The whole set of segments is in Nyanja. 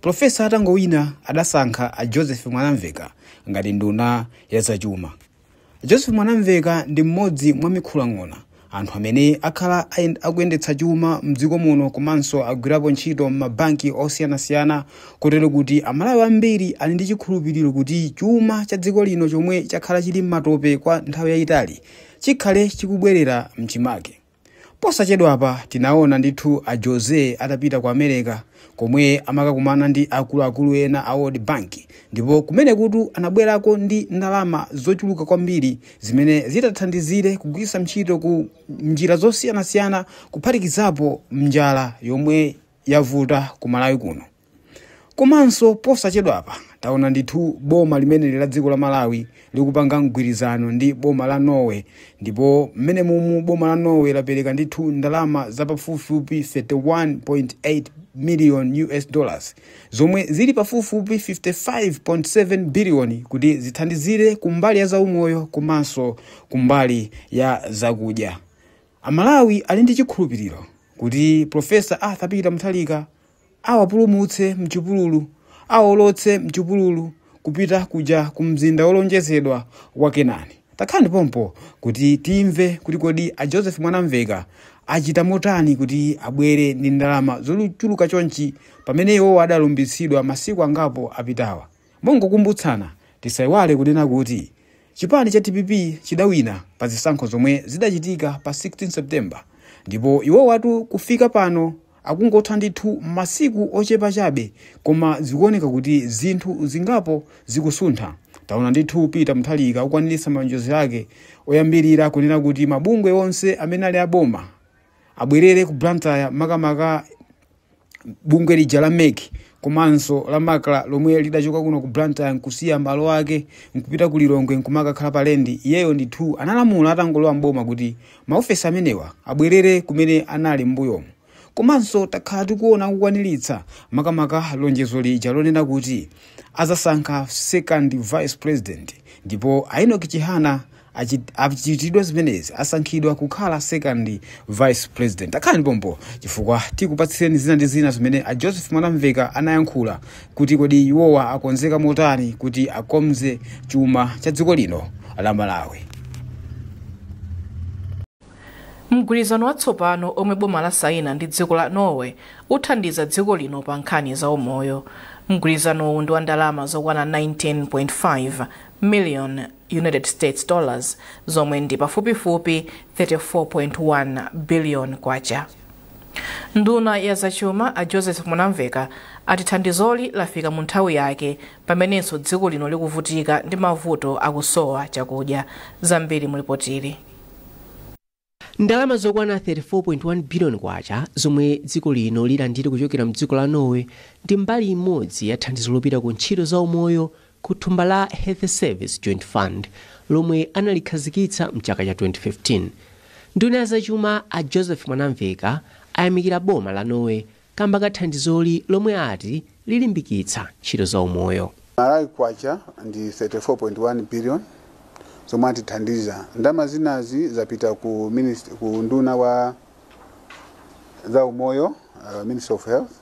Pulofesa atangowina adasankha a Joseph Mwanamveka ngati nduna ya zachuma. A Joseph Mwanamveka ndi mmodzi mwa mikhulang'ona, anthu amene akhala akuyendetsa chuma mdziko muno komanso agwirapo ntchito mmabanki osiyanasiyana kotero kuti Amalawi ambiri ali ndi chikhulupiliro kuti chuma cha dziko lino chomwe chakhala chili mmatope kwa nthawi yayitali chikhale chikubwerera mchimake. Posachedwapa tinaona ndithu a Jose atapita ku America komwe amakakumana ndi akuluakulu ena a World Bank ndipo kumenekutu anabwerako ndi ndalama zochuluka kwambiri zimene zitathandizire kugwiritsa ntchito ku njira zosiyanasiyana kuphatikizapo njala yomwe yavuta ku Malawi kuno. komanso posachedwapa taona ndithu boma limeneli la dziko la malawi likupanga mgwirizano ndi boma la norway ndipo mmenemumu boma la norway lapereka ndithu ndalama zapafupifupi 31.8 million us dollars zomwe zili pafupifupi 55.7 biliyoni kuti zithandizire kumbali ya zaumoyo komanso kumbali ya zakudya amalawi ali ndi chikhulupiriro kuti profesa arthur peter mutharika Awapulumutse m'chipululu, awaolotse m'chipululu kupita kuja ku mzinda wolonjezedwa wa Kenani. Takhalani pompo kuti timve kuti kodi a Joseph Mwanamveka achita motani kuti abwere ndi ndalama zochuluka chonchi pamene iwowa adalumbitsidwa masiku angapo apitawa. Mongokumbutsana, tisaiwale kunena kuti chipani cha DPP chidawina pa zisankho zomwe zidachitika pa 16 September ndipo iwowatu kufika pano Akungotha ndithu masiku ochepa chabe koma zikuoneka kuti zinthu zingapo zikusuntha. Taona ndithu Peter Mutharika akukwaniritsa malonjezo ake oyambirira kunena kuti mabungwe onse amene ali aboma abwerere ku Blantyre makamaka bungwe lija la MEC komanso la MACRA lomwe lidachoka kuno ku Blantyre nkusiya malo ake nkupita ku Lilongwe nkumakakhala pa lendi. Iyeyo ndithu analamula atangolowa m'boma kuti maofesi amenewa abwerere kumene anali m'mbuyomu komanso takhala tikuona akukwaniritsa makamaka lonjezo lija lonena kuti azasankha second vice president ndipo a enoch chihana achi- achitidwa zimenezi asankhidwa kukhala second vice president takhalani pompo chifukwa tikupatsireni zina ndi zina zimene a joseph mwanamveka anayankhula kuti kodi iwowa akonzeka motani kuti akonze chuma cha dziko lino la malawi mgwirizano watsopano omwe boma lasaina ndi dziko la norway uthandiza dziko lino pa nkhani za umoyo mgwirizanowu ndi wa ndalama zokwana 19.5 million united states dollars zomwe ndi pafupifupi 34.1 billion kwacha Nduna ya zachuma a Joseph Mwanamveka ati thandizoli lafika mu nthawi yake pamenenso dziko lino likuvutika ndi mavuto akusowa chakudya. Zambiri mu lipotili. Ndalama zokwana 34.1 biliyoni kwacha zomwe dziko lino lilandire kuchokera mdziko la Norway ndi mbali imodzi ya thandizo lopita ku ntchito za umoyo ku thumba la Health Service Joint Fund lomwe analikhazikitsa m'chaka cha 2015. Nduna ya zachuma a Joseph Mwanamveka ayamikira boma la Norway kamba ka thandizoli lomwe ati lilimbikitsa ntchito za umoyo. Malawi Kwacha ndi 34.1 billion zomwe atithandiza. Ndalama zinazi zapita ku, minist- ku nduna wa za umoyo uh, Ministry of Health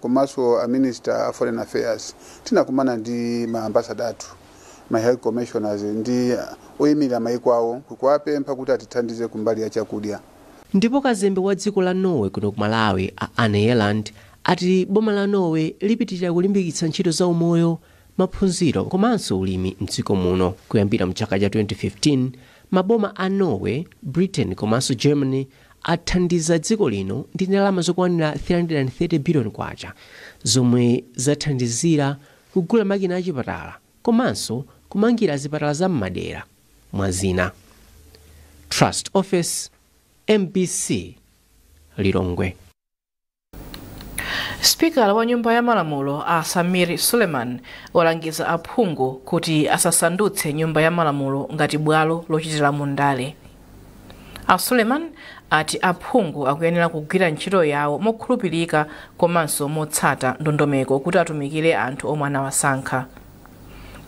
komanso a minister a foreign affairs tinakumana ndi ma ambassador athu ma high commissioners ndi oyimirira mayiko awo kuwapempha kuti atithandize kumbali ya chakudya. Ndipo kazembe wa dziko la Norway kuno ku Malawi a Anne Bjelland ati boma la Norway lipitilira kulimbikitsa ntchito za umoyo, maphunziro komanso ulimi m'dziko muno. Kuyambira mchaka cha 2015, maboma a Norway, Britain komanso Germany athandiza dziko lino ndi ndalama zokwanira 330 biliyoni kwacha zomwe zathandizira kugula makina achipatala komanso kumangira zipatala za m'madera, mwa zina. Trust Ofesi, mbc, Lilongwe. sipikala wa nyumba ya malamulo a sameer suleman walangiza aphungu kuti asasandutse nyumba ya malamulo ngati bwalo lochitiramo ndale a suleman ati aphungu akuyenera kugwira ntchito yawo mokhulupirika komanso motsata ndondomeko kuti atumikire anthu omwe anawasankha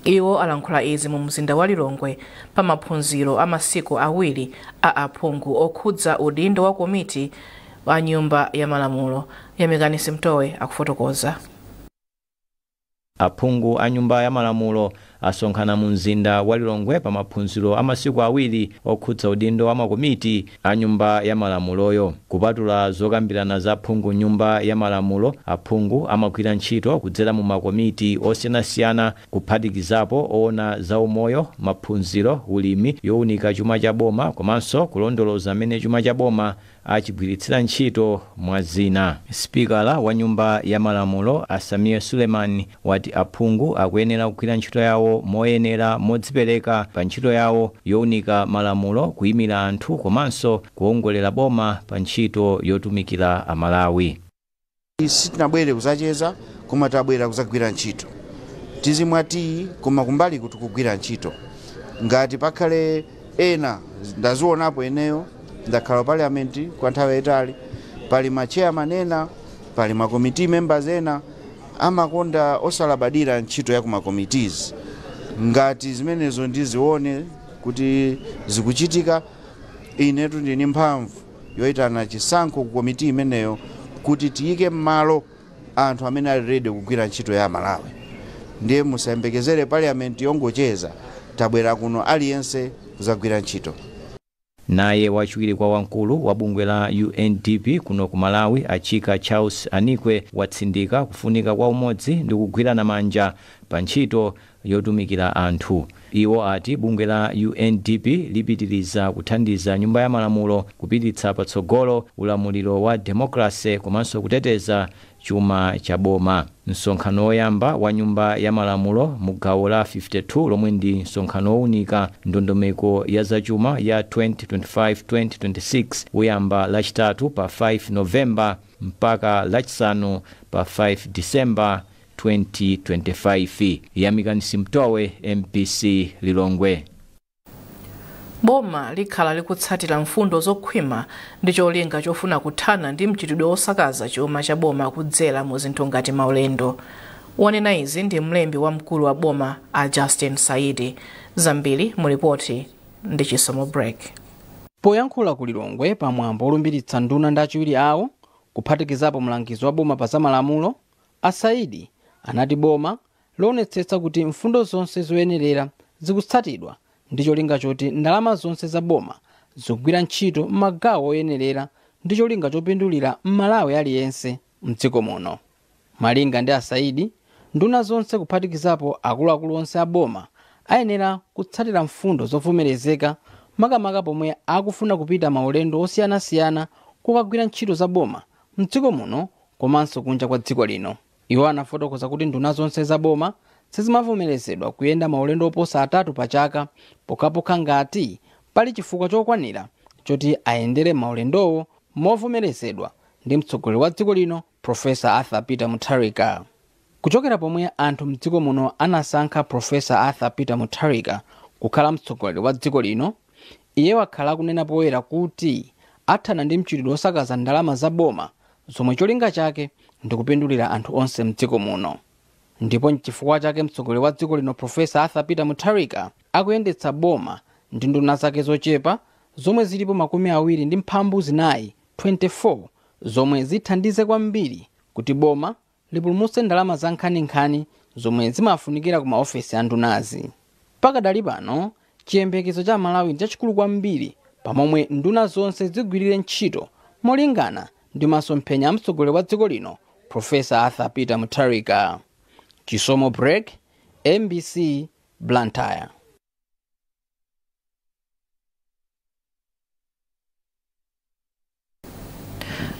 iwo alankhula izi mu mzinda wa lilongwe pa maphunziro a masiku awiri a aphungu okhudza udindo wa komiti wa Nyumba ya Malamulo Yamikani Simtowe akufotokoza. Aphungu a Nyumba ya Malamulo asonkhana mu mzinda wa Lilongwe pa maphunziro a masiku awiri okhudza udindo wa makomiti a Nyumba ya Malamuloyo. Kupatula zokambirana za aphungu m'Nyumba ya Malamulo, aphungu amagwira ntchito kudzera mu makomiti osiyanasiyana kuphatikizapo oona za umoyo, maphunziro, ulimi, younika chuma cha boma komanso kulondoloza mmene chuma cha boma achigwiritsira ntchito, mwa zina. Sipikala wa Nyumba ya Malamulo a Sameer Suleman wati aphungu akuyenera kugwira ntchito yawo moyenera, modzipereka pa ntchito yawo younika malamulo, kuimira anthu komanso kuwongolera boma pa ntchito yotumikira Amalawi. sitinabwere kuzacheza koma tabwera kuzagwira ntchito tizimwa tiyi koma kumbaliko tikugwira ntchito ngati pakhale ena ndazionapo ineyo ndakhala ku parliament kwa nthawi yayitali pali ma chairman ena pali ma committee members ena amakonda osalabadira ntchito ya kuma committees ngati zimenezo ndizione kuti zikuchitika inetu ndini mphamvu yoitana chisankho ku komiti imeneyo kuti tiyike m'malo anthu amene ali ready kugwira ntchito ya Amalawi. Ndiye musayembekezere parliament yongocheza, tabwera kuno aliyense kuzagwira ntchito. Naye wachiwiri kwa wamkulu wa bungwe la UNDP kuno ku Malawi a Chika Charles Anikwe watsindika kufunika kwa umodzi ndi kugwirana manja pa ntchito yotumikira anthu. Iwo ati bungwe la UNDP lipitiriza kuthandiza Nyumba ya Malamulo kupititsa patsogolo ulamuliro wa demokalase komanso kuteteza chuma cha boma. Msonkhano woyamba wa Nyumba ya Malamulo mu gawo la 52 lomwe ndi msonkhano wounika ndondomeko ya zachuma ya 2025-2026 uyamba Lachitatu pa 5 November mpaka Lachisanu pa 5 December 2025. Yamikani Simtowe, mbc Lilongwe. Boma likhala likutsatira mfundo zokhwima ndi cholinga chofuna kuthana ndi mchitidwe wosakaza chuma cha boma kudzera mu zinthu ngati maulendo. Wanena izi ndi mlembi wamkulu wa boma a Justin Saidi. Zambiri mu lipoti ndi Chisomo Break. Poyankhula ku Lilongwe pa mwambo olumbiritsa nduna ndi achiwiri awo, kuphatikizapo mlangizi wa boma pa zamalamulo, A Saidi anati boma lionetsetsa kuti mfundo zonse zoyenerera zikutsatidwa ndi cholinga choti ndalama zonse za boma zikugwira ntchito m'magawo oyenerera ndi cholinga chopindulira Mmalawi aliyense m'dziko muno. Malinga ndi a Saidi, nduna zonse kuphatikizapo akuluakulu onse a boma ayenera kutsatira mfundo zovomerezeka makamaka pomwe akufuna kupita maulendo osiyanasiyana kukagwira ntchito za boma m'dziko muno komanso kunja kwa dziko lino. Iwo anafotokoza kuti nduna zonse za boma sizimavomerezedwa kuyenda maulendo oposa atatu pa chaka pokhapokha ngati pali chifukwa chokwanira choti ayendere maulendowo movomerezedwa ndi mtsogoleri wa dziko lino Professor Arthur Peter Mutharika. Kuchokera pomwe anthu mdziko muno anasankha Professor Arthur Peter Mutharika kukhala mtsogoleri wa dziko lino, Iye wakhala akunena poyera kuti athana ndi mchitidwe osakaza ndalama za boma zomwe cholinga chake ndikupindulira anthu onse mdziko muno ndipo nchifukwa chake mtsogoleri wa dziko lino Prof Arthur Peter Mutharika akuyendetsa boma ndi nduna zake zochepa zomwe zilipo makumi awiri ndi mphambu zinayi 24 zomwe zithandize kwambiri kuti boma lipulumutse ndalama za nkhaninkhani zomwe zimafunikira ku maofesi a ndunazi pakadali pano chiyembekezo cha amalawi ndi chachikulu kwambiri pamomwe nduna zonse zigwirire ntchito molingana ndi masomphenya a mtsogoleri wa dziko lino profesa arthur peter mutharika chisomo break mbc blantyre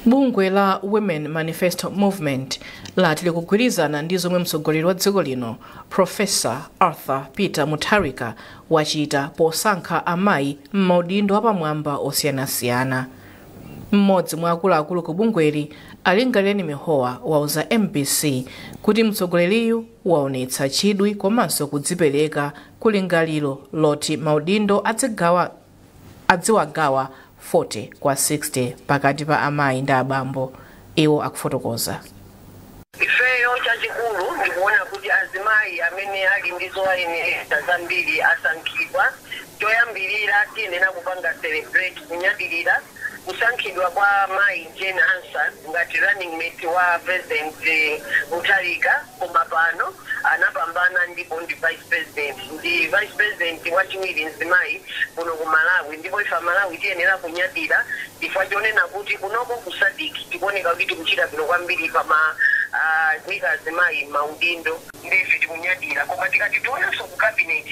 bungwe la women manifesto movement lati likugwirizana ndi zomwe mtsogoleri wa dziko lino profesa arthur peter mutharika wachita posankha amayi m'maudindo apamwamba osiyanasiyana mmodzi mwa akuluakulu ku bungweli a lingalireni mihowa wauza mbc kuti mtsogoleriyu waonetsa chidwi komanso kudzipereka kulingaliro loti maudindo adzigawa adziwagawa 40 kwa 60 pakati pa amayi ndi abambo, iwo akufotokoza. Ifeyo chachikulu ndi kuona kuti azimayi amene ali ndi zowayenereza zambiri asankhidwa. Choyambirira tiyenera kupanga celebrate, kunyadilira, kusankhidwa kwa mayi Jane Ansah ngati running mate wa president Mutharika koma pano anapambana ndipo ndi vice president. Ndi vice president wachiwiri mzimayi kuno ku Malawi ndipo ife amalawi tiyenera kunyadira chifukwa chonena kuti kunoko ku Sadc tikuoneka kuti tikuchita bwino kwambiri pama kuika azimayi m'maudindo. nde ife tikunyadira koma tikati tionenso ku cabinet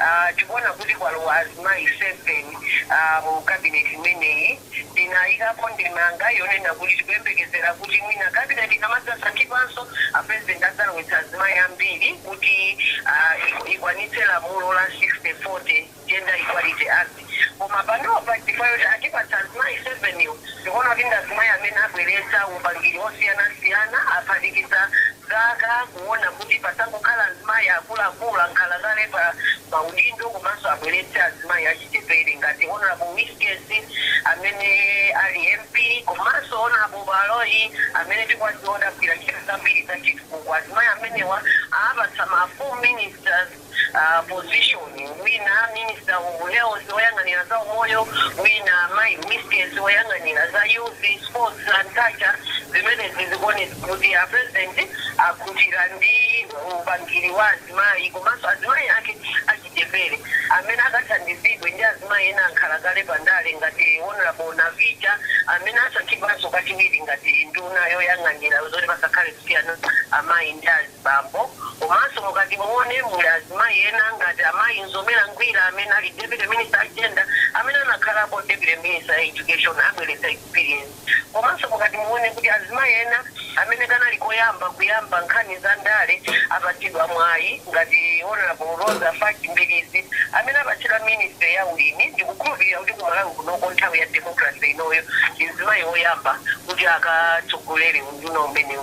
aah tikuona kuti kwalowa azimayi 7 aah mu cabinet imeneyi tinayikapo ndemanga yonena kuti tikuyembekezera kuti mwina cabinet ikamadzasankhidwanso a president adzalowetsa azimayi ambiri kuti aah ikwanitse lamulo la 60:40. Gender Equality Act koma panopa chifukwa choti atipatsa azimayi 7 wo tikuona kuti ndi azimayi amene abweretsa upangiri osiyanasiyana aphatikiza zaka kuona kuti pasangokhala azimayi akuluakulu, ankhalakale pa maudindo komanso abweretse azimayi achichepere ngati Hon Wiskes amene ali MP komanso Hon Baloyi amene tikuwadziwa kuti agwira ntchito zambiri zachitukuko. Azimayi amenewa awapatsa ma full ministers. uh, position wina minister of health woyang'anira za umoyo wina mai minister woyang'anira za youth sports and culture zimene zikuonetsa kuti a president akhutira ndi upangiri wa azimayi komanso azimayi ake achichepere amene akathandizidwe ndi azimayi ena ankhala kale pandale ngati honorable navicha amene asankhidwanso kachiwiri ngati nduna yoyang'anira zoti pasakhale kusiyana amayi ndi azi bambo, komanso mukati muone muli azimayi ena ngati a mayi Mzomera Ngwira amene ali Deputy Minister a Gender amene anakhalapo Deputy Minister a Education abweretsa experience komanso mukati muone kuti azimayi ena amene kanali koyamba kuyamba nkhani za ndale apatsidwa mwayi ngati Honorable Roza Fatch Mbilizi amene apatsidwa Ministry ya ulimi ndikukhulupilira kuti ku Malawi kunoko nthawi ya democracy inoyo ndi mzimayi oyamba kuti akatsogolere unduna umenewu.